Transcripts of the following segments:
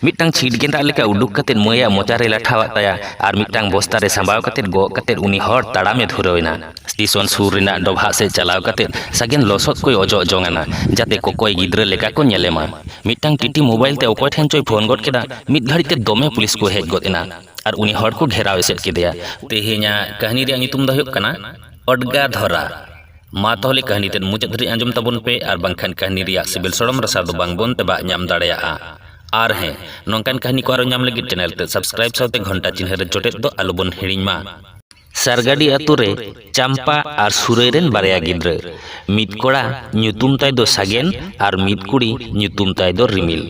ᱢᱤᱫᱴᱟᱝ ᱪᱷᱤᱴ ᱜᱮᱸᱫᱟᱜ ᱞᱮᱠᱟ ᱩᱰᱩᱠ ᱠᱟᱛᱮ ᱢᱟᱹᱭᱟᱜ ᱢᱚᱪᱟᱨᱮ ᱞᱟᱴᱷᱟᱣᱟᱫ ᱛᱟᱭᱟ ᱟᱨ ᱢᱤᱫᱴᱟᱝ ᱵᱚᱥᱛᱟ ᱨᱮ ᱥᱟᱢᱵᱟᱣ ᱠᱟᱛᱮ ᱜᱚᱜ ᱠᱟᱛᱮ ᱩᱱᱤ ᱦᱚᱲ ᱛᱟᱲᱟᱢᱮ ᱫᱷᱩᱨᱟᱹᱣ ᱮᱱᱟ ᱥᱴᱮᱥᱚᱱ ᱥᱩᱨ ᱨᱮᱱᱟᱜ ᱰᱚᱵᱷᱟᱜ ᱥᱮᱫ ᱪᱟᱞᱟᱣ ᱠᱟᱛᱮ ᱥᱟᱜᱮᱱ ᱞᱚᱥᱚᱫ ᱠᱚᱭ ᱚᱡᱚᱜ ᱡᱚᱝ ᱟᱱᱟ ᱡᱟᱛᱮ ᱠᱚᱠᱚᱭ ᱜᱤᱫᱽᱨᱟᱹ ᱞᱮᱠᱟ ᱠᱚ ᱧᱮᱞᱮ ᱢᱟ ᱢᱤᱫᱴᱟᱝ ᱴᱤᱴᱤ ᱢᱳᱵᱟᱭᱤᱞ ᱛᱮ ᱚᱠᱚᱭ ᱴᱷᱮᱱ ᱪᱚᱭ ᱯᱷᱳᱱ ᱜᱚᱫ ᱠᱮᱫᱟ ᱢᱤᱫ ᱜᱷᱟᱹᱲᱤᱡ ᱛᱮ ᱫᱚᱢᱮ ᱯᱩᱞᱤᱥ ᱠᱚ ᱦᱮᱡ ᱜᱚᱫ ᱮᱱᱟ ᱟᱨ ᱩᱱᱤ ᱦᱚᱲ ᱠᱚ ᱜᱷᱮᱨᱟᱣ ᱮᱥᱮᱫ ᱠᱮᱫᱮᱭᱟ ᱛᱮᱦᱮᱧᱟᱜ ᱠᱟᱹᱦᱱᱤ ᱨᱮᱭᱟᱜ ᱧᱩᱛᱩᱢ ᱫᱚ ᱦᱩᱭᱩᱜ ᱠᱟᱱᱟ ᱚᱰᱜᱟ ᱫᱷᱚᱨᱟ ᱢᱟ ᱛᱟᱦᱚᱞᱮ ᱠᱟᱹᱦᱱᱤ ᱛᱮᱫ ᱢᱩᱪᱟᱹᱫ ᱫᱷᱟᱹᱨᱤᱡ ᱟᱸᱡᱚᱢ ᱛᱟᱵᱚᱱ ᱯᱮ ᱟᱨ ᱵᱟᱝᱠᱷᱟᱱ ᱠᱟᱹᱦᱱᱤ ᱨᱮᱭᱟᱜ ᱥᱤᱵᱤᱞ ᱥᱚᱲᱚᱢ ᱨᱟᱥᱟ ᱫᱚ ᱵᱟᱝ ᱵᱚᱱ ᱛᱮᱵᱟᱜ ᱧᱟᱢ ᱫᱟᱲᱮᱭᱟᱜᱼᱟ ᱟᱨ ᱦᱮᱸ ᱱᱚᱝᱠᱟᱱ ᱠᱟᱹᱦᱱᱤ ᱠᱚ ᱟᱨᱚ ᱧᱟᱢ ᱞᱟᱹᱜᱤᱫ ᱪᱮᱱᱮᱞ ᱛᱮᱫ ᱥᱟᱵᱥᱠᱨᱟᱭᱤᱵᱽ ᱥᱟᱶᱛᱮ ᱜᱷᱚᱱᱴᱟ ᱪᱤᱱᱦᱟᱹ ᱨᱮ ᱡᱚᱴᱮᱫ ᱫᱚ ᱟᱞᱚ ᱵᱚᱱ ᱦᱤᱲᱤᱧ ᱢᱟ ᱥᱟᱨᱜᱟᱰᱤ ᱟᱛᱳ ᱨᱮ ᱪᱟᱢᱯᱟ ᱟᱨ ᱥᱩᱨᱟᱹᱭ ᱨᱮᱱ ᱵᱟᱨᱭᱟ ᱜᱤᱫᱽᱨᱟᱹ ᱢᱤᱫ ᱠᱚᱲᱟ ᱧᱩᱛᱩᱢ ᱛᱟᱭ ᱫᱚ ᱥᱟᱜᱮᱱ ᱟᱨ ᱢᱤᱫ ᱠᱩᱲᱤ ᱧᱩᱛᱩᱢ ᱛᱟᱭ ᱫᱚ ᱨᱤᱢᱤᱞ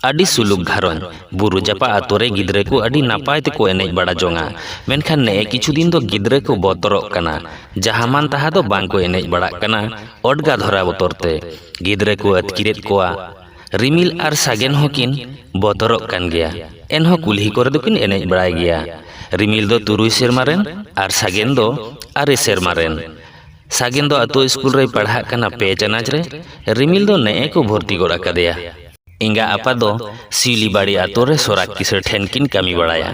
ᱟᱹᱰᱤ ᱥᱩᱞᱩᱠ ᱜᱷᱟᱨᱚᱸᱡᱽ ᱵᱩᱨᱩ ᱡᱟᱯᱟᱜ ᱟᱹᱛᱩ ᱨᱮ ᱜᱤᱫᱽᱨᱟᱹ ᱠᱚ ᱟᱹᱰᱤ ᱱᱟᱯᱟᱭ ᱛᱮᱠᱚ ᱮᱱᱮᱡ ᱵᱟᱲᱟ ᱡᱚᱝᱟ ᱢᱮᱱᱠᱷᱟᱱ ᱱᱮᱜᱼᱮ ᱠᱤᱪᱷᱩ ᱫᱤᱱ ᱫᱚ ᱜᱤᱫᱽᱨᱟᱹ ᱠᱚ ᱵᱚᱛᱚᱨᱚᱜ ᱠᱟᱱᱟ ᱡᱟᱦᱟᱸ ᱢᱟᱱ ᱛᱟᱦᱟᱸ ᱫᱚ ᱵᱟᱝ ᱠᱚ ᱮᱱᱮᱡ ᱵᱟᱲᱟᱜ ᱠᱟᱱᱟ ᱚᱰᱜᱟ ᱫᱷᱚᱨᱟ ᱵᱚᱛᱚᱨ ᱛᱮ ᱜᱤᱫᱽᱨᱟᱹ ᱠᱚ ᱟᱹᱛᱠᱤᱨᱮᱫ ᱠᱚᱣᱟ ᱨᱤᱢᱤᱞ ᱟᱨ ᱥᱟᱜᱮᱱ ᱦᱚᱸ ᱠᱤᱱ ᱵᱚᱛᱚᱨᱚᱜ ᱠᱟᱱ ᱜᱮᱭᱟ ᱮᱱᱦᱚᱸ ᱠᱩᱞᱦᱤ ᱠᱚᱨᱮ ᱫᱚ ᱠᱤᱱ ᱮᱱᱮᱡ ᱵᱟᱲᱟᱭ ᱜᱮᱭᱟ ᱨᱤᱢᱤᱞ ᱫᱚ ᱛᱩᱨᱩᱭ ᱥᱮᱨᱢᱟ ᱨᱮᱱ ᱟᱨ ᱥᱟᱜᱮᱱ ᱫᱚ ᱟᱨᱮ ᱥᱮᱨᱢᱟ ᱨᱮᱱ ᱥᱟᱜᱮᱱ ᱫᱚ ᱟᱛᱳ ᱤᱥᱠᱩᱞ ᱨᱮᱭ ᱯᱟᱲᱦᱟᱜ ᱠᱟᱱᱟ ᱯᱮ ᱪᱟᱱᱟᱪ ᱨᱮ ᱨᱤᱢᱤᱞ ᱫᱚ ᱱᱮᱜᱼᱮ ᱠᱚ ᱵᱷᱚᱨᱛᱤ ᱜᱚᱫ ᱟᱠᱟᱫᱮᱭᱟ ᱮᱸᱜᱟ ᱟᱯᱟ ᱫᱚ ᱥᱤᱣᱞᱤᱵᱟᱲᱤ ᱟᱛᱳ ᱨᱮ ᱥᱚᱨᱟᱜᱽ ᱠᱤᱥᱟᱹᱬ ᱴᱷᱮᱱ ᱠᱤᱱ ᱠᱟᱹᱢᱤ ᱵᱟᱲᱟᱭᱟ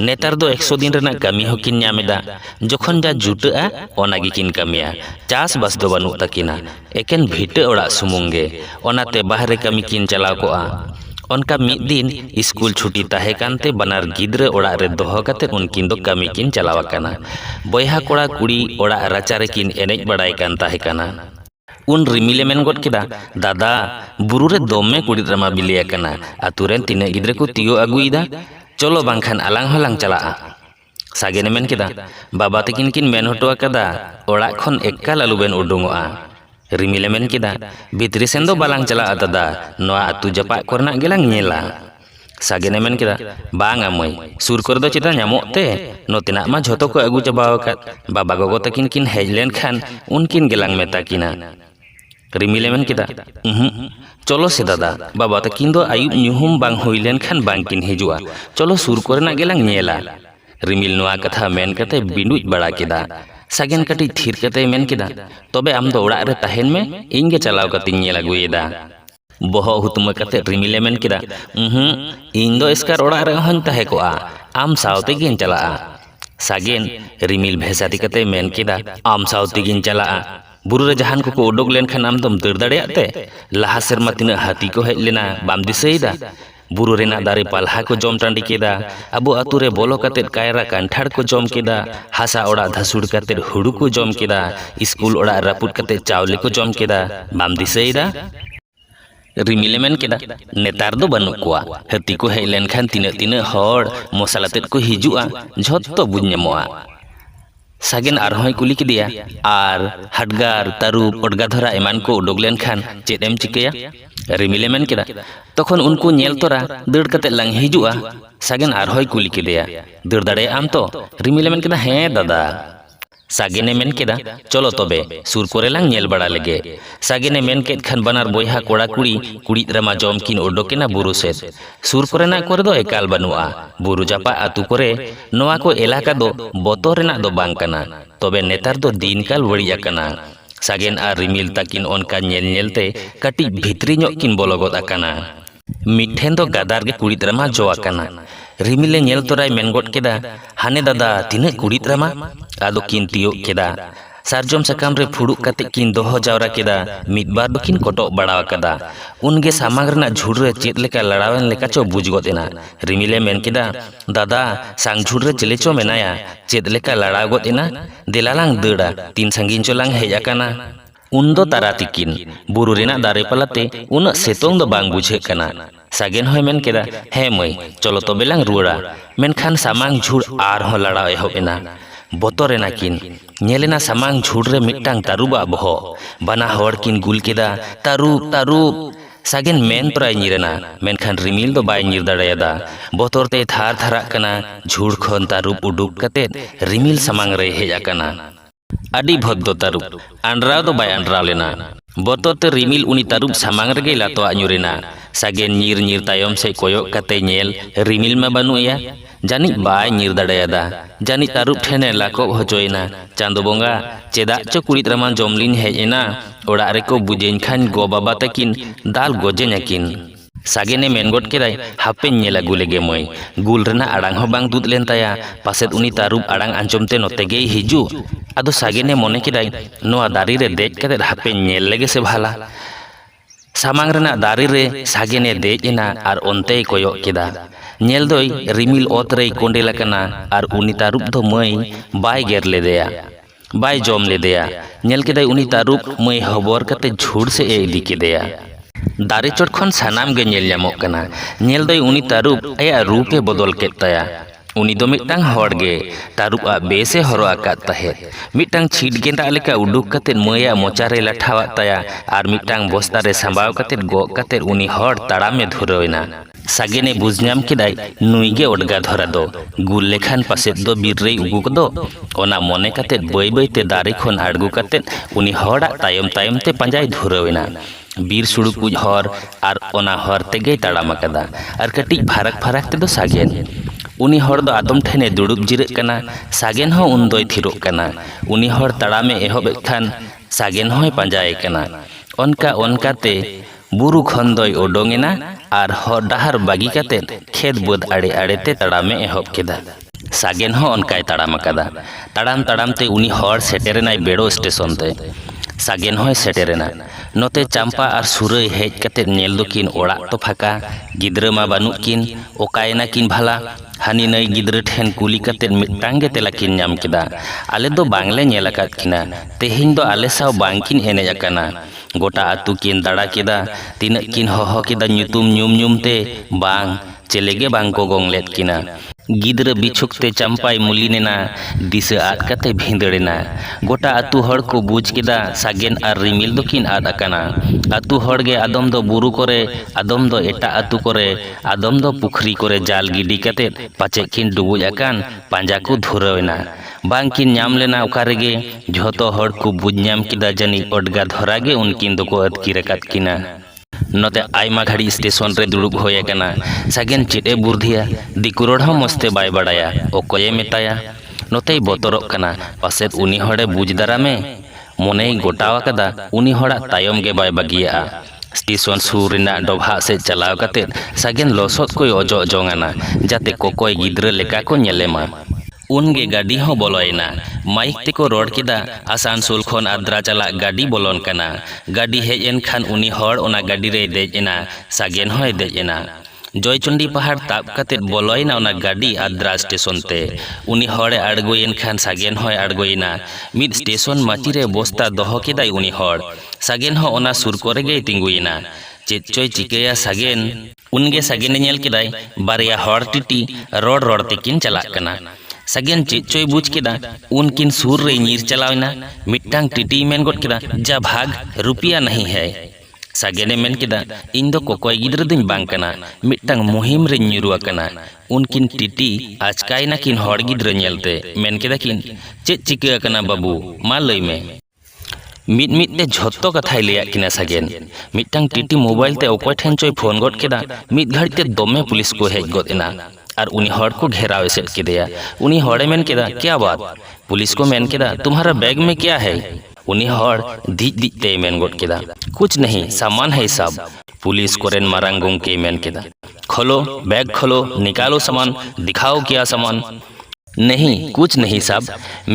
ᱱᱮᱛᱟᱨ ᱫᱚ ᱮᱠᱥᱚ ᱫᱤᱱ ᱨᱮᱱᱟᱜ ᱠᱟᱹᱢᱤ ᱦᱚᱸᱠᱤᱱ ᱧᱟᱢ ᱮᱫᱟ ᱡᱚᱠᱷᱚᱱ ᱡᱟ ᱡᱩᱴᱟᱹᱜᱼᱟ ᱚᱱᱟ ᱜᱮᱠᱤᱱ ᱠᱟᱹᱢᱤᱭᱟ ᱪᱟᱥᱵᱟᱥ ᱫᱚ ᱵᱟᱹᱱᱩᱜ ᱛᱟᱹᱠᱤᱱᱟ ᱮᱠᱮᱱ ᱵᱷᱤᱴᱟᱹ ᱚᱲᱟᱜ ᱥᱩᱢᱩᱝ ᱜᱮ ᱚᱱᱟᱛᱮ ᱵᱟᱦᱨᱮ ᱠᱟᱹᱢᱤ ᱠᱤᱱ ᱪᱟᱞᱟᱣ ᱠᱚᱜᱼᱟ ᱚᱱᱠᱟ ᱢᱤᱫ ᱫᱤᱱ ᱤᱥᱠᱩᱞ ᱪᱷᱩᱴᱤ ᱛᱟᱦᱮᱸ ᱠᱟᱱᱛᱮ ᱵᱟᱱᱟᱨ ᱜᱤᱫᱽᱨᱟᱹ ᱚᱲᱟᱜ ᱨᱮ ᱫᱚᱦᱚ ᱠᱟᱛᱮᱫ ᱩᱱᱠᱤᱱ ᱫᱚ ᱠᱟᱹᱢᱤ ᱠᱤᱱ ᱪᱟᱞᱟᱣ ᱟᱠᱟᱱᱟ ᱵᱚᱭᱦᱟ ᱠᱚᱲᱟ ᱠᱩᱲᱤ ᱚᱲᱟᱜ ᱨᱟᱪᱟ ᱨᱮᱠᱤᱱ ᱮᱱᱮᱡ ᱵᱟᱲᱟᱭ ᱠᱟᱱ ᱛᱟᱦᱮᱸ ᱠᱟᱱᱟ ᱩᱱ ᱨᱤᱢᱤᱞᱮ ᱢᱮᱱ ᱜᱚᱫ ᱠᱮᱫᱟ ᱫᱟᱫᱟ ᱵᱩᱨᱩ ᱨᱮ ᱫᱚᱢᱮ ᱠᱩᱲᱤᱫ ᱨᱟᱢᱟ ᱵᱤᱞᱤ ᱟᱠᱟᱱᱟ ᱟᱹᱛᱩ ᱨᱮᱱ ᱛᱤᱱᱟᱹᱜ ᱜᱤᱫᱽᱨᱟᱹ ᱠᱚ ᱛᱤᱭᱳᱜ ᱟᱹᱜᱩᱭᱮᱫᱟ ᱪᱚᱞᱚ ᱵᱟᱝᱠᱷᱟᱱ ᱟᱞᱟᱝ ᱦᱚᱸᱞᱟᱝ ᱪᱟᱞᱟᱜᱼᱟ ᱥᱟᱜᱮᱱᱮ ᱢᱮᱱ ᱠᱮᱫᱟ ᱵᱟᱵᱟ ᱛᱟᱹᱠᱤᱱ ᱠᱤᱱ ᱢᱮᱱ ᱦᱚᱴᱚ ᱟᱠᱟᱫᱟ ᱚᱲᱟᱜ ᱠᱷᱚᱱ ᱮᱠᱟᱞ ᱟᱞᱚᱵᱮᱱ ᱩᱰᱩᱝᱚᱜᱼᱟ ᱨᱤᱢᱤᱞᱮ ᱢᱮᱱ ᱠᱮᱫᱟ ᱵᱷᱤᱛᱨᱤ ᱥᱮᱱ ᱫᱚ ᱵᱟᱞᱟᱝ ᱪᱟᱞᱟᱜᱼᱟ ᱫᱟᱫᱟ ᱱᱚᱣᱟ ᱟᱹᱛᱩ ᱡᱟᱯᱟᱜ ᱠᱚᱨᱮᱱᱟᱜ ᱜᱮᱞᱟᱝ ᱧᱮᱞᱟ ᱥᱟᱜᱮᱱᱮ ᱢᱮᱱ ᱠᱮᱫᱟ ᱵᱟᱝᱟ ᱢᱟᱹᱭ ᱥᱩᱨ ᱠᱚᱨᱮ ᱫᱚ ᱪᱮᱫᱟᱜ ᱧᱟᱢᱚᱜ ᱛᱮ ᱱᱚᱛᱮᱱᱟᱜ ᱢᱟ ᱡᱷᱚᱛᱚ ᱠᱚ ᱟᱹᱜᱩ ᱪᱟᱵᱟ ᱟᱠᱟᱫ ᱵᱟᱵᱟ ᱜᱚᱜᱚ ᱛᱟᱹᱠᱤᱱ ᱠᱤᱱ ᱦᱮᱡ ᱞᱮᱱᱠᱷᱟᱱ ᱩᱱᱠᱤᱱ ᱜᱮᱞᱟᱝ ᱢᱮᱛᱟ ᱠᱤᱱᱟ ᱨᱤᱢᱤᱞᱮ ᱢᱮᱱ ᱠᱮᱫᱟ ᱩᱦᱩᱸᱜ ᱪᱚᱞᱚ ᱥᱮ ᱫᱟᱫᱟ ᱵᱟᱵᱟ ᱛᱟᱹᱠᱤᱱ ᱫᱚ ᱟᱹᱭᱩᱵ ᱧᱩᱦᱩᱢ ᱵᱟᱝ ᱦᱩᱭ ᱞᱮᱱᱠᱷᱟᱱ ᱵᱟᱝᱠᱤᱱ ᱦᱤᱡᱩᱜᱼᱟ ᱪᱚᱞᱚ ᱥᱩᱨ ᱠᱚᱨᱮᱱᱟᱜ ᱜᱮᱞᱟᱝ ᱧᱮᱞᱟ ᱨᱤᱢᱤᱞ ᱱᱚᱣᱟ ᱠᱟᱛᱷᱟ ᱢᱮᱱ ᱠᱟᱛᱮ ᱵᱤᱸᱰᱩᱡ ᱵᱟᱲᱟ ᱠᱮᱫᱟ ᱥᱟᱜᱮᱱ ᱠᱟᱹᱴᱤᱡ ᱛᱷᱤᱨ ᱠᱟᱛᱮ ᱢᱮᱱ ᱠᱮᱫᱟ ᱛᱚᱵᱮ ᱟᱢ ᱫᱚ ᱚᱲᱟᱜ ᱨᱮ ᱛᱟᱦᱮᱱ ᱢᱮ ᱤᱧ ᱜᱮ ᱪᱟᱞᱟᱣ ᱠᱟᱛᱮᱧ ᱧᱮᱞ ᱟᱹᱜᱩᱭᱮᱫᱟ ᱵᱚᱦᱚᱜ ᱦᱩᱛᱢᱟᱹ ᱠᱟᱛᱮ ᱨᱤᱢᱤᱞᱮ ᱢᱮᱱ ᱠᱮᱫᱟ ᱩᱦᱩᱸᱜ ᱤᱧ ᱫᱚ ᱮᱥᱠᱟᱨ ᱚᱲᱟᱜ ᱨᱮ ᱦᱚᱧ ᱛᱟᱦᱮᱸ ᱠᱚᱜᱼᱟ ᱟᱢ ᱥᱟᱶ ᱛᱮᱜᱮᱧ ᱪᱟᱞᱟᱜᱼᱟ ᱥᱟᱜᱮᱱ ᱨᱤᱢᱤᱞ ᱵᱷᱮᱥᱟᱫᱤ ᱠᱟᱛᱮ ᱢᱮᱱ ᱠᱮᱫᱟ ᱟᱢ ᱥᱟᱶ ᱛᱮᱜᱮᱧ ᱪᱟᱞᱟᱜᱼᱟ ᱵᱩᱨᱩ ᱨᱮ ᱡᱟᱦᱟᱱ ᱠᱚᱠᱚ ᱩᱰᱩᱠ ᱞᱮᱱᱠᱷᱟᱱ ᱟᱢ ᱫᱚᱢ ᱫᱟᱹᱲ ᱫᱟᱲᱮᱭᱟᱜ ᱛᱮ ᱞᱟᱦᱟ ᱥᱮᱨᱢᱟ ᱛᱤᱱᱟᱹᱜ ᱦᱟᱹᱛᱤ ᱠᱚ ᱦᱮᱡ ᱞᱮᱱᱟ ᱵᱟᱢ ᱫᱤᱥᱟᱹᱭᱮᱫᱟ ᱵᱩᱨᱩ ᱨᱮᱱᱟᱜ ᱫᱟᱨᱮ ᱯᱟᱞᱦᱟ ᱠᱚ ᱡᱚᱢ ᱴᱟᱺᱰᱤ ᱠᱮᱫᱟ ᱟᱵᱚ ᱟᱛᱳ ᱨᱮ ᱵᱚᱞᱚ ᱠᱟᱛᱮ ᱠᱟᱭᱨᱟ ᱠᱟᱱᱴᱷᱟᱲ ᱠᱚ ᱡᱚᱢ ᱠᱮᱫᱟ ᱦᱟᱥᱟ ᱚᱲᱟᱜ ᱫᱷᱟᱹᱥᱩᱲ ᱠᱟᱛᱮ ᱦᱩᱲᱩ ᱠᱚ ᱡᱚᱢ ᱠᱮᱫᱟ ᱤᱥᱠᱩᱞ ᱚᱲᱟᱜ ᱨᱟᱹᱯᱩᱫ ᱠᱟᱛᱮ ᱪᱟᱣᱞᱮ ᱠᱚ ᱡᱚᱢ ᱠᱮᱫᱟ ᱵᱟᱢ ᱫᱤᱥᱟᱹᱭᱮᱫᱟ ᱨᱤᱢᱤᱞᱮ ᱢᱮᱱ ᱠᱮᱫᱟ ᱱᱮᱛᱟᱨ ᱫᱚ ᱵᱟᱹᱱᱩᱜ ᱠᱚᱣᱟ ᱦᱟᱹᱛᱤ ᱠᱚ ᱦᱮᱡ ᱞᱮᱱᱠᱷᱟᱱ ᱛᱤᱱᱟᱹᱜ ᱛᱤᱱᱟᱹᱜ ᱦᱚᱲ ᱢᱚᱥᱟᱞ ᱟᱛᱮᱫ ᱠᱚ ᱦᱤᱡᱩᱜᱼᱟ ᱡᱷᱚᱛᱚ ᱵᱩᱡᱽ ᱧᱟᱢᱚᱜᱼᱟ ᱥᱟᱜᱮᱱ ᱟᱨᱦᱚᱸᱭ ᱠᱩᱞᱤ ᱠᱮᱫᱮᱭᱟ ᱟᱨ ᱦᱟᱰᱜᱟᱨ ᱛᱟᱹᱨᱩᱵ ᱚᱰᱜᱟᱫᱷᱚᱨᱟ ᱮᱢᱟᱱ ᱠᱚ ᱩᱰᱩᱠ ᱞᱮᱱᱠᱷᱟᱱ ᱪᱮᱫ ᱮᱢ ᱪᱤᱠᱟᱹᱭᱟ ᱨᱤᱢᱤᱞᱮ ᱢᱮᱱ ᱠᱮᱫᱟ ᱛᱚᱠᱷᱚᱱ ᱩᱱᱠᱩ ᱧᱮᱞ ᱛᱚᱨᱟ ᱫᱟᱹᱲ ᱠᱟᱛᱮ ᱞᱟᱝ ᱦᱤᱡᱩᱜᱼᱟ ᱥᱟᱜᱮᱱ ᱟᱨᱦᱚᱸᱭ ᱠᱩᱞᱤ ᱠᱮᱫᱮᱭᱟ ᱫᱟᱹᱲ ᱫᱟᱲᱮᱭᱟᱜ ᱟᱢ ᱛᱚ ᱨᱤᱢᱤᱞᱮ ᱢᱮᱱ ᱠᱮᱫᱟ ᱦᱮᱸ ᱫᱟᱫᱟ ᱥᱟᱜᱮᱱᱮ ᱢᱮᱱ ᱠᱮᱫᱟ, ᱪᱚᱞᱚ ᱛᱚᱵᱮ, ᱥᱩᱨ ᱠᱚᱨᱮ ᱞᱟᱝ ᱧᱮᱞ ᱵᱟᱲᱟ ᱞᱮᱜᱮ᱾ ᱥᱟᱜᱮᱱᱮ ᱢᱮᱱ ᱠᱮᱫ ᱠᱷᱟᱱ ᱵᱟᱱᱟᱨ ᱵᱚᱭᱦᱟ ᱠᱚᱲᱟ ᱠᱩᱲᱤ ᱠᱩᱲᱤᱫ ᱨᱟᱢᱟ ᱡᱚᱢ ᱠᱤᱱ ᱚᱰᱚᱠ ᱮᱱᱟ ᱵᱩᱨᱩ ᱥᱮᱫ᱾ ᱥᱩᱨ ᱠᱚᱨᱮᱱᱟᱜ ᱠᱚᱨᱮ ᱫᱚ ᱮᱠᱟᱞ ᱵᱟᱹᱱᱩᱜᱼᱟ᱾ ᱵᱩᱨᱩ ᱡᱟᱯᱟᱜ ᱟᱹᱛᱩ ᱠᱚᱨᱮ ᱱᱚᱣᱟ ᱠᱚ ᱮᱞᱟᱠᱟ ᱫᱚ ᱵᱚᱛᱚᱨ ᱨᱮᱱᱟᱜ ᱫᱚ ᱵᱟᱝ ᱠᱟᱱᱟ᱾ ᱛᱚᱵᱮ ᱱᱮᱛᱟᱨ ᱫᱚ ᱫᱤᱱ ᱠᱟᱞ ᱵᱟᱹᱲᱤᱡ ᱟᱠᱟᱱᱟ᱾ ᱥᱟᱜᱮᱱ ᱟᱨ ᱨᱤᱢᱤᱞ ᱛᱟᱹᱠᱤᱱ ᱚᱱᱠᱟ ᱧᱮᱞ ᱧᱮᱞ ᱛᱮ ᱠᱟᱹᱴᱤᱡ ᱵᱷᱤᱛᱨᱤ ᱧᱚᱜ ᱠᱤᱱ ᱵᱚᱞᱚ ᱜᱚᱫ ᱟᱠᱟᱱᱟ᱾ ᱢᱤᱫ ᱴᱷᱮᱱ ᱫᱚ ᱜᱟᱫᱟᱨ ᱜᱮ ᱠᱩᱲᱤᱫ ᱨᱟᱢᱟ ᱡᱚ ᱟᱠᱟᱱᱟ ᱨᱤᱢᱤᱞ ᱮ ᱧᱮᱞ ᱛᱚᱨᱟᱭ ᱢᱮᱱ ᱜᱚᱫ ᱠᱮᱫᱟ ᱦᱟᱱᱮ ᱫᱟᱫᱟ ᱛᱤᱱᱟᱹᱜ ᱠᱩᱲᱤᱫ ᱨᱟᱢᱟ ᱟᱫᱚ ᱠᱤᱱ ᱛᱤᱭᱳᱜ ᱠᱮᱫᱟ ᱥᱟᱨᱡᱚᱢ ᱥᱟᱠᱟᱢ ᱨᱮ ᱯᱷᱩᱲᱩᱜ ᱠᱟᱛᱮ ᱠᱤᱱ ᱫᱚᱦᱚ ᱡᱟᱣᱨᱟ ᱠᱮᱫᱟ ᱢᱤᱫ ᱵᱟᱨ ᱫᱚᱠᱤᱱ ᱠᱚᱴᱚᱜ ᱵᱟᱲᱟ ᱟᱠᱟᱫᱟ ᱩᱱᱜᱮ ᱥᱟᱢᱟᱝ ᱨᱮᱱᱟᱜ ᱡᱷᱩᱲ ᱨᱮ ᱪᱮᱫ ᱞᱮᱠᱟ ᱞᱟᱲᱟᱣᱮᱱ ᱞᱮᱠᱟ ᱪᱚ ᱵᱩᱡᱽ ᱜᱚᱫ ᱮᱱᱟ ᱨᱤᱢᱤᱞ ᱮ ᱢᱮᱱ ᱠᱮᱫᱟ ᱫᱟᱫᱟ ᱥᱟᱝ ᱡᱷᱩᱲ ᱨᱮ ᱪᱮᱞᱮ ᱪᱚ ᱢᱮᱱᱟᱭᱟ ᱪᱮᱫ ᱞᱮᱠᱟ ᱞᱟᱲᱟᱣ ᱜᱚᱫ ᱮᱱᱟ ᱫᱮᱞᱟ ᱞᱟᱝ ᱫᱟᱹᱲᱟ ᱛᱤᱱ ᱥᱟᱺᱜᱤᱧ ᱪᱚᱞᱟᱝ ᱦᱮᱡ ᱟᱠᱟᱱᱟ ᱩᱱ ᱫᱚ ᱛᱟᱨᱟ ᱛᱤᱠᱤᱱ ᱵᱩᱨᱩ ᱨᱮᱱᱟᱜ ᱫᱟᱨᱮ ᱯᱟᱞᱟ ᱛᱮ ᱩᱱᱟᱹᱜ ᱥᱮᱛᱳᱝ ᱫᱚ ᱵᱟᱝ ᱵᱩᱡᱷᱟᱹᱜ ᱠᱟᱱᱟ ᱥᱟᱜᱮᱱ ᱦᱚᱸᱭ ᱢᱮᱱ ᱠᱮᱫᱟ ᱦᱮᱸ ᱢᱟᱹᱭ ᱪᱚᱞᱚ ᱛᱚᱵᱮ ᱞᱟᱝ ᱨᱩᱣᱟᱹᱲᱟ ᱢᱮᱱᱠᱷᱟᱱ ᱥᱟᱢᱟᱝ ᱡᱷᱩᱲ ᱟᱨ ᱦᱚᱸ ᱞᱟᱲᱟᱣ ᱮᱦᱚᱵ ᱮᱱᱟ ᱵᱚᱛᱚᱨ ᱮᱱᱟ ᱠᱤᱱ ᱧᱮᱞ ᱮᱱᱟ ᱥᱟᱢᱟᱝ ᱡᱷᱩᱲ ᱨᱮ ᱢᱤᱫᱴᱟᱝ ᱛᱟᱹᱨᱩᱵᱟᱜ ᱵᱚᱦᱚᱜ ᱵᱟᱱᱟ ᱦᱚᱲ ᱠᱤᱱ ᱜᱩᱞ ᱠᱮᱫᱟ ᱛᱟᱹᱨᱩᱵ ᱛᱟᱹᱨᱩᱵ ᱥᱟᱜᱮᱱ ᱢᱮᱱ ᱛᱚᱨᱟᱭ ᱧᱤᱨ ᱮᱱᱟ ᱢᱮᱱᱠᱷᱟᱱ ᱨᱤᱢᱤᱞ ᱫᱚ ᱵᱟᱭ ᱧᱤᱨ ᱫᱟᱲᱮᱭᱟᱫᱟ ᱵᱚᱛᱚᱨ ᱛᱮᱭ ᱛᱷᱟᱨ ᱛᱷᱟᱨᱟᱜ ᱠᱟᱱᱟ ᱡᱷᱩᱲ ᱠᱷᱚᱱ ᱛᱟᱹᱨᱩᱵ ᱩᱰᱩᱠ ᱠᱟᱛᱮ ᱨᱤᱢᱤᱞ ᱥᱟᱢᱟᱝ ᱨᱮᱭ ᱦᱮᱡ ᱟᱠᱟᱱᱟ ᱟᱹᱰᱤ ᱵᱷᱚᱫᱽᱫᱚ ᱛᱟᱹᱨᱩᱵ ᱟᱱᱰᱨᱟᱣ ᱫᱚ ᱵᱟᱭ ᱟᱱᱰᱨᱟᱣ ᱞᱮᱱᱟ ᱵᱚᱛᱚᱨ ᱛᱮ ᱨᱤᱢᱤᱞ ᱩᱱᱤ ᱛᱟᱹᱨᱩᱵ ᱥᱟᱢᱟᱝ ᱨᱮᱜᱮᱭ ᱞᱟᱛᱚᱣᱟᱜ ᱧᱩᱨ ᱮᱱᱟ ᱥᱟᱜᱮᱱ ᱧᱤᱨ ᱧᱤᱨ ᱛᱟᱭᱚᱢ ᱥᱮᱫ ᱠᱚᱭᱚᱜ ᱠᱟᱛᱮ ᱧᱮᱞ ᱨᱤᱢᱤᱞ ᱢᱟ ᱵᱟᱹᱱᱩᱜ ᱮᱭᱟ ᱡᱟᱹᱱᱤᱡ ᱵᱟᱭ ᱧᱤᱨ ᱫᱟᱲᱮᱭᱟᱫᱟ ᱡᱟᱹᱱᱤᱡ ᱛᱟᱹᱨᱩᱵ ᱴᱷᱮᱱᱮ ᱞᱟᱠᱚᱵ ᱦᱚᱪᱚᱭᱮᱱᱟ ᱪᱟᱸᱫᱚ ᱵᱚᱸᱜᱟ ᱪᱮᱫᱟᱜ ᱪᱚ ᱠᱩᱲᱤᱫ ᱨᱟᱢᱟ ᱡᱚᱢ ᱞᱤᱧ ᱦᱮᱡ ᱮᱱᱟ ᱚᱲᱟᱜ ᱨᱮᱠᱚ ᱵᱩᱡᱟᱹᱧ ᱠᱷᱟᱱ ᱜᱚ ᱵᱟᱵᱟ ᱛᱟᱹᱠᱤᱱ ᱫᱟᱞ ᱜᱚᱡᱮᱧᱟᱹᱠᱤᱱ ᱥᱟᱜᱮᱱᱮ ᱢᱮᱱ ᱜᱚᱫ ᱠᱮᱫᱟᱭ ᱦᱟᱯᱮᱧ ᱧᱮᱞ ᱟᱹᱜᱩ ᱞᱮᱜᱮ ᱢᱟᱹᱭ ᱜᱩᱞ ᱨᱮᱱᱟᱜ ᱟᱲᱟᱝ ᱦᱚᱸ ᱵᱟᱝ ᱛᱩᱫ ᱞᱮᱱ ᱛᱟᱭᱟ ᱯᱟᱥᱮᱫ ᱩᱱᱤ ᱛᱟᱹᱨᱩᱵ ᱟᱲᱟᱝ ᱟᱸᱡᱚᱢ ᱛᱮ ᱱᱚᱛᱮ ᱜᱮᱭ ᱦᱤᱡᱩᱜ ᱟᱫᱚ ᱥᱟᱜᱮᱱᱮ ᱢᱚᱱᱮ ᱠᱮᱫᱟᱭ ᱱᱚᱣᱟ ᱫᱟᱨᱮ ᱨᱮ ᱫᱮᱡ ᱠᱟᱛᱮ ᱦᱟᱯᱮᱧ ᱧᱮᱞ ᱞᱮᱜᱮ ᱥᱮ ᱵᱷᱟᱞᱟ ᱥᱟᱢᱟᱝ ᱨᱮᱱᱟᱜ ᱫᱟᱨᱮ ᱨᱮ ᱥᱟᱜᱮᱱᱮ ᱫᱮᱡ ᱮᱱᱟ ᱟᱨ ᱚᱱᱛᱮᱭ ᱠᱚᱭᱚᱜ ᱠᱮᱫᱟ ᱧᱮᱞ ᱫᱚᱭ ᱨᱤᱢᱤᱞ ᱚᱛ ᱨᱮᱭ ᱠᱚᱸᱰᱮᱞ ᱟᱠᱟᱱᱟ ᱟᱨ ᱩᱱᱤ ᱛᱟᱹᱨᱩᱵ ᱫᱚ ᱢᱟᱹᱭ ᱵᱟᱭ ᱜᱮᱨ ᱞᱮᱫᱮᱭᱟ ᱵᱟᱭ ᱡᱚᱢ ᱞᱮᱫᱮᱭᱟ ᱧᱮᱞ ᱠᱮᱫᱟᱭ ᱩᱱᱤ ᱛᱟᱹᱨᱩᱵ ᱢᱟᱹᱭ ᱦᱚᱵᱚᱨ ᱠᱟᱛᱮ ᱡᱷᱩᱲ ᱥᱮᱫ ᱮ ᱤᱫᱤ ᱠᱮᱫᱮᱭᱟ ᱫᱟᱨᱮ ᱪᱚᱴ ᱠᱷᱚᱱ ᱥᱟᱱᱟᱢ ᱜᱮ ᱧᱮᱞ ᱧᱟᱢᱚᱜ ᱠᱟᱱᱟ ᱧᱮᱞ ᱫᱚᱭ ᱩᱱᱤ ᱛᱟᱹᱨᱩᱵ ᱟᱭᱟᱜ ᱨᱩᱯ ᱮ ᱵᱚᱫᱚᱞ ᱠᱮᱫ ᱛᱟᱭᱟ ᱩᱱᱤ ᱫᱚ ᱢᱤᱫᱴᱟᱝ ᱦᱚᱲ ᱜᱮ ᱛᱟᱹᱨᱩᱵ ᱟᱜ ᱵᱮᱥ ᱮ ᱦᱚᱨᱚᱜ ᱟᱠᱟᱫ ᱛᱟᱦᱮᱸᱫ ᱢᱤᱫᱴᱟᱝ ᱪᱷᱤᱴ ᱜᱮᱸᱫᱟᱜ ᱞᱮᱠᱟ ᱩᱰᱩᱠ ᱠᱟᱛᱮ ᱢᱟᱹᱭᱟᱜ ᱢᱚᱪᱟ ᱨᱮ ᱞᱟᱴᱷᱟᱣᱟᱫ ᱛᱟᱭᱟ ᱟᱨ ᱢᱤᱫᱴᱟᱝ ᱵᱚᱥᱛᱟ ᱨᱮ ᱥᱟᱢᱵᱟᱣ ᱠᱟᱛᱮ ᱜᱚᱜ ᱠᱟᱛᱮ ᱩᱱᱤ ᱦᱚᱲ ᱛᱟᱲᱟᱢ ᱮ ᱫᱷᱩᱨᱟᱹᱣ ᱮᱱᱟ ᱥᱟᱜᱮᱱᱮ ᱵᱩᱡᱽ ᱧᱟᱢ ᱠᱮᱫᱟᱭ ᱱᱩᱭ ᱜᱮ ᱚᱰᱜᱟ ᱫᱷᱚᱨᱟ ᱫᱚ ᱜᱩᱞ ᱞᱮᱠᱷᱟᱱ ᱯᱟᱥᱮᱫ ᱫᱚ ᱵᱤᱨ ᱨᱮᱭ ᱩᱜᱩ ᱠᱚᱫᱚ ᱚᱱᱟ ᱢᱚᱱᱮ ᱠᱟᱛᱮᱫ ᱵᱟᱹᱭ ᱵᱟᱹᱭ ᱛᱮ ᱫᱟᱨᱮ ᱠᱷᱚᱱ ᱟᱬᱜᱚ ᱠᱟᱛᱮᱫ ᱩᱱᱤ ᱦᱚᱲᱟᱜ ᱛᱟᱭᱚᱢ ᱛᱟᱭᱚᱢ ᱛᱮ ᱯᱟᱸᱡᱟᱭ ᱫᱷᱩᱨᱟᱹᱣ ᱮᱱᱟ ᱵᱤᱨ ᱥᱩᱲᱩᱠᱩᱡ ᱦᱚᱨ ᱟᱨ ᱚᱱᱟ ᱦᱚᱨ ᱛᱮᱜᱮᱭ ᱛᱟᱲᱟᱢ ᱟᱠᱟᱫᱟ ᱟᱨ ᱠᱟᱹᱴᱤᱡ ᱯᱷᱟᱨᱟᱠ ᱯᱷᱟᱨᱟᱠ ᱛᱮᱫᱚ ᱥᱟᱜᱮᱱ ᱩᱱᱤ ᱦᱚᱲ ᱫᱚ ᱟᱫᱚᱢ ᱴᱷᱮᱱᱮ ᱫᱩᱲᱩᱵ ᱡᱤᱨᱟᱹᱜ ᱠᱟᱱᱟ ᱥᱟᱜᱮᱱ ᱦᱚᱸ ᱩᱱ ᱫᱚᱭ ᱛᱷᱤᱨᱚᱜ ᱠᱟᱱᱟ ᱩᱱᱤ ᱦᱚᱲ ᱛᱟᱲᱟᱢᱮ ᱮᱦᱚᱵ ᱮᱫ ᱠᱷᱟᱱ ᱥᱟᱜᱮᱱ ᱦᱚᱸᱭ ᱯᱟᱸᱡᱟᱭᱮ ᱠᱟᱱᱟ ᱚᱱᱠᱟ ᱚᱱᱠᱟ ᱛᱮ ᱵᱩᱨᱩ ᱠᱷᱚᱱ ᱫᱚᱭ ᱳᱰᱳᱝ ᱮᱱᱟ ᱟᱨ ᱦᱚᱨ ᱰᱟᱦᱟᱨ ᱵᱟᱹᱜᱤ ᱠᱟᱛᱮ ᱠᱷᱮᱛ ᱵᱟᱹᱫᱽ ᱟᱲᱮ ᱟᱲᱮ ᱛᱮ ᱛᱟᱲᱟᱢ ᱮ ᱮᱦᱚᱵ ᱠᱮᱫᱟ᱾ ᱥᱟᱜᱮᱱ ᱦᱚᱸ ᱚᱱᱠᱟᱭ ᱛᱟᱲᱟᱢ ᱟᱠᱟᱫᱟ᱾ ᱛᱟᱲᱟᱢ ᱛᱟᱲᱟᱢ ᱛᱮ ᱩᱱᱤ ᱦᱚᱲ ᱥᱮᱴᱮᱨ ᱮᱱᱟᱭ ᱵᱮᱲᱳ ᱥᱴᱮᱥᱚᱱ ᱛᱮ᱾ ᱥᱟᱜᱮᱱ ᱦᱚᱸᱭ ᱥᱮᱴᱮᱨ ᱮᱱᱟ᱾ ᱱᱚᱛᱮ ᱪᱟᱢᱯᱟ ᱟᱨ ᱥᱩᱨᱟᱹᱭ ᱦᱮᱡ ᱠᱟᱛᱮ ᱧᱮᱞ ᱫᱚ ᱠᱤᱱ ᱚᱲᱟᱜ ᱛᱚ ᱯᱷᱟᱸᱠᱟ, ᱜᱤᱫᱽᱨᱟᱹ ᱢᱟ ᱵᱟᱹᱱᱩᱜ ᱠᱤᱱ, ᱚᱠᱟ ᱮᱱᱟ ᱠᱤᱱ ᱵᱷᱟᱞᱟ? ᱦᱟᱹᱱᱤ ᱱᱟᱹᱭ ᱜᱤᱫᱽᱨᱟᱹ ᱴᱷᱮᱱ ᱠᱩᱞᱤ ᱠᱟᱛᱮ ᱢᱤᱫᱴᱟᱝ ᱜᱮ ᱛᱮᱞᱟ ᱠᱤᱱ ᱧᱟᱢ ᱠᱮᱫᱟ, ᱟᱞᱮ ᱫᱚ ᱵᱟᱝ ᱞᱮ ᱧᱮᱞ ᱟᱠᱟᱫ ᱠᱤᱱᱟ᱾ ᱛᱮᱦᱮᱧ ᱫᱚ ᱟᱞᱮ ᱥᱟᱶ ᱵᱟᱝ ᱠᱤᱱ ᱮᱱᱮᱡ ᱟᱠᱟᱱᱟ᱾ ᱜᱚᱴᱟ ᱟᱹᱛᱩ ᱠᱤᱱ ᱫᱟᱬᱟ ᱠᱮᱫᱟ ᱛᱤᱱᱟᱹᱜ ᱠᱤᱱ ᱦᱚᱦᱚ ᱠᱮᱫᱟ ᱧᱩᱛᱩᱢ ᱧᱩᱢ ᱧᱩᱢ ᱛᱮ ᱵᱟᱝ ᱪᱮᱞᱮ ᱜᱮ ᱵᱟᱝ ᱠᱚ ᱜᱚᱝ ᱞᱮᱫ ᱠᱤᱱᱟ ᱜᱤᱫᱽᱨᱟᱹ ᱵᱤᱪᱷᱩᱠ ᱛᱮ ᱪᱟᱢᱯᱟᱭ ᱢᱩᱞᱤᱱ ᱮᱱᱟ ᱫᱤᱥᱟᱹ ᱟᱫ ᱠᱟᱛᱮ ᱵᱷᱤᱸᱫᱟᱹᱲ ᱮᱱᱟ ᱜᱚᱴᱟ ᱟᱹᱛᱩ ᱦᱚᱲ ᱠᱚ ᱵᱩᱡᱽ ᱠᱮᱫᱟ ᱥᱟᱜᱮᱱ ᱟᱨ ᱨᱤᱢᱤᱞ ᱫᱚ ᱠᱤᱱ ᱟᱫ ᱟᱠᱟᱱᱟ ᱟᱹᱛᱩ ᱦᱚᱲ ᱜᱮ ᱟᱫᱚᱢ ᱫᱚ ᱵᱩᱨᱩ ᱠᱚᱨᱮ ᱟᱫᱚᱢ ᱫᱚ ᱮᱴᱟᱜ ᱟᱹᱛᱩ ᱠᱚᱨᱮ ᱟᱫᱚᱢ ᱫᱚ ᱯᱩᱠᱷᱨᱤ ᱠᱚᱨᱮ ᱡᱟᱞ ᱜᱤᱰᱤ ᱠᱟᱛᱮ ᱯᱟᱪᱮᱫ ᱠᱤᱱ ᱰᱩᱵᱩᱡ ᱟᱠᱟᱱ ᱯᱟᱸᱡᱟ ᱠᱚ ᱫᱷᱩᱨᱟᱹᱣ ᱮᱱᱟ ᱵᱟᱝᱠᱤᱱ ᱧᱟᱢ ᱞᱮᱱᱟ ᱚᱠᱟ ᱨᱮᱜᱮ ᱡᱷᱚᱛᱚ ᱦᱚᱲ ᱠᱚ ᱵᱩᱡᱽ ᱧᱟᱢ ᱠᱮᱫᱟ ᱡᱟᱹᱱᱤᱡ ᱚᱰᱜᱟ ᱫᱷᱚᱨᱟ ᱜᱮ ᱩᱱᱠᱤᱱ ᱫᱚᱠᱚ ᱟᱹᱛᱠᱤᱨ ᱟᱠᱟᱫ ᱠᱤᱱᱟ᱾ ᱱᱚᱛᱮ ᱟᱭᱢᱟ ᱜᱷᱟᱹᱲᱤᱡ ᱥᱴᱮᱥᱚᱱ ᱨᱮ ᱫᱩᱲᱩᱵ ᱦᱳᱭ ᱟᱠᱟᱱᱟ᱾ ᱥᱟᱜᱮᱱ ᱪᱮᱫ ᱮ ᱵᱩᱨᱫᱷᱤᱭᱟ᱾ ᱫᱤᱠᱩ ᱨᱚᱲ ᱦᱚᱸ ᱢᱚᱡᱽ ᱛᱮ ᱵᱟᱭ ᱵᱟᱲᱟᱭᱟ᱾ ᱚᱠᱚᱭ ᱮ ᱢᱮᱛᱟᱭᱟ᱾ ᱱᱚᱛᱮᱭ ᱵᱚᱛᱚᱨᱚᱜ ᱠᱟᱱᱟ ᱯᱟᱥᱮᱫ ᱩᱱᱤ ᱦᱚᱲ ᱮ ᱵᱩᱡᱽ ᱫᱟᱨᱟᱢ ᱮ᱾ ᱢᱚᱱᱮᱭ ᱜᱚᱴᱟ ᱟᱠᱟᱫᱟ ᱩᱱᱤ ᱦᱚᱲᱟᱜ ᱛᱟᱭᱚᱢ ᱜᱮ ᱵᱟᱭ ᱵᱟᱹᱜᱤᱭᱟᱜᱼᱟ᱾ ᱥᱴᱮᱥᱚᱱ ᱥᱩᱨ ᱨᱮᱱᱟᱜ ᱰᱚᱵᱷᱟᱜ ᱥᱮᱫ ᱪᱟᱞᱟᱣ ᱠᱟᱛᱮ ᱥᱟᱜᱮᱱ ᱞᱚᱥᱚᱫ ᱠᱚᱭ ᱚᱡᱚᱜ ᱡᱚᱝ ᱟᱱᱟ ᱡᱟᱛᱮ ᱠᱚᱠᱚᱭ ᱜᱤᱫᱽᱨᱟᱹ ᱞᱮᱠᱟ ᱠᱚ ᱧᱮᱞᱮ ᱢᱟ᱾ ᱩᱱᱜᱮ ᱜᱟᱹᱰᱤ ᱦᱚᱸ ᱵᱚᱞᱚᱭᱮᱱᱟ᱾ ᱢᱟᱭᱤᱠ ᱛᱮᱠᱚ ᱨᱚᱲ ᱠᱮᱫᱟ ᱟᱥᱟᱱᱥᱳᱞ ᱠᱷᱚᱱ ᱟᱫᱽᱨᱟ ᱪᱟᱞᱟᱜ ᱜᱟᱹᱰᱤ ᱵᱚᱞᱚᱱ ᱠᱟᱱᱟ᱾ ᱜᱟᱹᱰᱤ ᱦᱮᱡ ᱮᱱ ᱠᱷᱟᱱ ᱩᱱᱤ ᱦᱚᱲ ᱚᱱᱟ ᱜᱟᱹᱰᱤ ᱨᱮᱭ ᱫᱮᱡ ᱮᱱᱟ, ᱥᱟᱜᱮᱱ ᱦᱚᱸᱭ ᱫᱮᱡ ᱮᱱᱟ᱾ ᱡᱚᱭᱪᱚᱱᱰᱤ ᱯᱟᱦᱟᱲ ᱛᱟᱵ ᱠᱟᱛᱮ ᱵᱚᱞᱚᱭᱮᱱᱟ ᱚᱱᱟ ᱜᱟᱹᱰᱤ ᱟᱫᱽᱨᱟ ᱥᱴᱮᱥᱚᱱ ᱛᱮ᱾ ᱩᱱᱤ ᱦᱚᱲ ᱮ ᱟᱬᱜᱚᱭᱮᱱ ᱠᱷᱟᱱ ᱥᱟᱜᱮᱱ ᱦᱚᱸᱭ ᱟᱬᱜᱚᱭᱮᱱᱟ᱾ ᱢᱤᱫ ᱥᱴᱮᱥᱚᱱ ᱢᱟᱹᱪᱤ ᱨᱮ ᱵᱚᱥᱛᱟ ᱫᱚᱦᱚ ᱠᱮᱫᱟᱭ ᱩᱱᱤ ᱦᱚᱲ᱾ ᱥᱟᱜᱮᱱ ᱦᱚᱸ ᱚᱱᱟ ᱥᱩᱨ ᱠᱚᱨᱮ ᱜᱮᱭ ᱛᱤᱸᱜᱩᱭᱮᱱᱟ᱾ ᱪᱮᱫ ᱪᱚᱭ ᱪᱤᱠᱟᱹᱭᱟ ᱥᱟᱜᱮᱱ᱾ ᱩᱱᱜᱮ ᱥᱟᱜᱮᱱᱮ ᱧᱮᱞ ᱠᱮᱫᱟᱭ ᱵᱟᱨᱭᱟ ᱦᱚᱲ ᱴᱤᱴᱤ ᱨᱚᱲ ᱨᱚᱲ ᱛᱮᱠᱤᱱ ᱪᱟᱞᱟᱜ ᱠᱟᱱᱟ᱾ ᱥᱟᱜᱮᱱ ᱪᱮᱫ ᱪᱚᱭ ᱵᱩᱡᱽ ᱠᱮᱫᱟ, ᱩᱱᱠᱤᱱ ᱥᱩᱨ ᱨᱮᱭ ᱧᱤᱨ ᱪᱟᱞᱟᱣ ᱮᱱᱟ᱾ ᱢᱤᱫᱴᱟᱝ ᱴᱤᱴᱤᱭ ᱢᱮᱱ ᱜᱚᱫ ᱠᱮᱫᱟ, ᱡᱟ ᱵᱷᱟᱜᱽ, ᱨᱩᱯᱤᱭᱟ ᱱᱟᱦᱤ ᱦᱮᱭ᱾ ᱥᱟᱜᱮᱱᱮ ᱢᱮᱱ ᱠᱮᱫᱟ, ᱤᱧ ᱫᱚ ᱠᱚᱠᱚᱭ ᱜᱤᱫᱽᱨᱟᱹ ᱫᱚᱧ ᱵᱟᱝ ᱠᱟᱱᱟ, ᱢᱤᱫᱴᱟᱝ ᱢᱩᱦᱤᱢ ᱨᱮᱧ ᱧᱩᱨᱩ ᱟᱠᱟᱱᱟ᱾ ᱩᱱᱠᱤᱱ ᱴᱤᱴᱤ ᱟᱪᱠᱟᱭᱮᱱᱟ ᱠᱤᱱ ᱦᱚᱲ ᱜᱤᱫᱽᱨᱟᱹ ᱧᱮᱞᱛᱮ᱾ ᱢᱮᱱ ᱠᱮᱫᱟ ᱠᱤᱱ, ᱪᱮᱫ ᱪᱤᱠᱟᱹ ᱟᱠᱟᱱᱟ ᱵᱟᱹᱵᱩ, ᱢᱟ ᱞᱟᱹᱭ ᱢᱮ᱾ ᱢᱤᱫ ᱢᱤᱫ ᱛᱮ ᱡᱷᱚᱛᱚ ᱠᱟᱛᱷᱟᱭ ᱞᱟᱹᱭᱟᱫ ᱠᱤᱱᱟ ᱥᱟᱜᱮᱱ ᱢᱤᱫᱴᱟᱝ ᱴᱤᱴᱤ ᱢᱳᱵᱟᱭᱤᱞ ᱛᱮ ᱚᱠᱚᱭ ᱴᱷᱮᱱ ᱪᱚᱭ ᱯᱷᱳᱱ ᱜᱚᱫ ᱠᱮᱫᱟ ᱢᱤᱫ ᱜᱷᱟᱹᱲᱤᱡ ᱛᱮ ᱫᱚᱢᱮ ᱯᱩᱞᱤᱥ ᱠᱚ ᱦᱮᱡ ᱜᱚᱫ ᱮᱱᱟ ᱟᱨ ᱩᱱᱤ ᱦᱚᱲ ᱠᱚ ᱜᱷᱮᱨᱟᱣ ᱮᱥᱮᱫ ᱠᱮᱫᱮᱭᱟ ᱩᱱᱤ ᱦᱚᱲᱮ ᱢᱮᱱ ᱠᱮᱫᱟ ᱠᱮᱭᱟ ᱵᱟᱛ ᱯᱩᱞᱤᱥ ᱠᱚ ᱢᱮᱱ ᱠᱮᱫᱟ ᱛᱩᱢᱦᱟᱨᱟ ᱵᱮᱜᱽ ᱢᱮ ᱠᱮᱭᱟ ᱦᱮ ᱩᱱᱤ ᱦᱚᱲ ᱫᱤᱡ ᱫᱤᱡ ᱛᱮᱭ ᱢᱮᱱ ᱜᱚᱫ ᱠᱮᱫᱟ ᱠᱩᱪ ᱱᱟᱦᱤ ᱥᱟᱢᱟᱱ ᱦᱮ ᱥᱟᱵ ᱯᱩᱞᱤᱥ ᱠᱚᱨᱮᱱ ᱢᱟᱨᱟᱝ ᱜᱚᱢᱠᱮᱭ ᱢᱮᱱ ᱠᱮᱫᱟ ᱠᱷᱳᱞᱳ ᱵᱮᱜᱽ ᱠᱷᱳᱞᱳ ᱱᱤᱠᱟᱞᱳ ᱥᱟᱢᱟᱱ ᱫᱤᱠᱷᱟᱣ ᱠᱮᱭᱟ ᱥᱟᱢᱟᱱ ᱱᱮᱦᱤ ᱠᱩᱪ ᱱᱮᱦᱤ ᱥᱟᱵ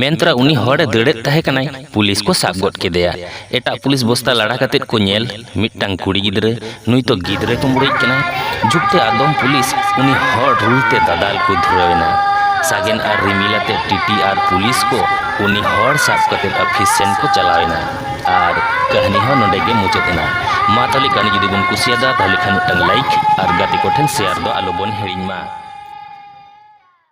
ᱢᱮᱱᱛᱨᱟ ᱩᱱᱤ ᱦᱚᱲᱮ ᱫᱟᱹᱲᱮᱫ ᱛᱟᱦᱮᱸ ᱠᱟᱱᱟᱭ ᱯᱩᱞᱤᱥ ᱠᱚ ᱥᱟᱵ ᱜᱚᱫ ᱠᱮᱫᱮᱭᱟ ᱮᱴᱟᱜ ᱯᱩᱞᱤᱥ ᱵᱚᱥᱛᱟ ᱞᱟᱲᱟ ᱠᱟᱛᱮ ᱠᱚ ᱧᱮᱞ ᱢᱤᱫᱴᱟᱝ ᱠᱩᱲᱤ ᱜᱤᱫᱽᱨᱟᱹ ᱱᱩᱭ ᱛᱚ ᱜᱤᱫᱽᱨᱟᱹ ᱠᱩᱢᱵᱽᱲᱩᱭᱤᱡ ᱠᱟᱱᱟᱭ ᱡᱩᱜᱽᱛᱮ ᱟᱫᱚᱢ ᱯᱩᱞᱤᱥ ᱩᱱᱤ ᱦᱚᱲ ᱨᱩᱞᱛᱮ ᱫᱟᱫᱟᱞ ᱠᱚ ᱫᱷᱩᱨᱟᱹᱣ ᱮᱱᱟ ᱥᱟᱜᱮᱱ ᱟᱨ ᱨᱤᱢᱤᱞ ᱟᱛᱮ ᱴᱤᱴᱤ ᱟᱨ ᱯᱩᱞᱤᱥ ᱠᱚ ᱩᱱᱤ ᱦᱚᱲ ᱥᱟᱵ ᱠᱟᱛᱮ ᱚᱯᱷᱤᱥ ᱥᱮᱱ ᱠᱚ ᱪᱟᱞᱟᱣ ᱮᱱᱟ ᱟᱨ ᱠᱟᱹᱦᱱᱤ ᱦᱚᱸ ᱱᱚᱰᱮ ᱜᱮ ᱢᱩᱪᱟᱹᱫ ᱮᱱᱟ ᱢᱟ ᱛᱟᱦᱞᱮ ᱠᱟᱹᱦᱱᱤ ᱡᱩᱫᱤ ᱵᱚᱱ ᱠᱩᱥᱤᱭᱟᱫᱟ ᱛᱟᱦᱞᱮ ᱠᱷᱟᱱ ᱢᱤᱫᱴᱟᱝ ᱞᱟᱭᱤᱠ ᱟᱨ ᱜᱟᱛᱮ ᱠᱚᱴᱷᱮᱱ ᱥᱮᱭᱟᱨ ᱫᱚ ᱟᱞᱚ ᱵᱚᱱ ᱦᱤᱲᱤᱧ ᱢᱟ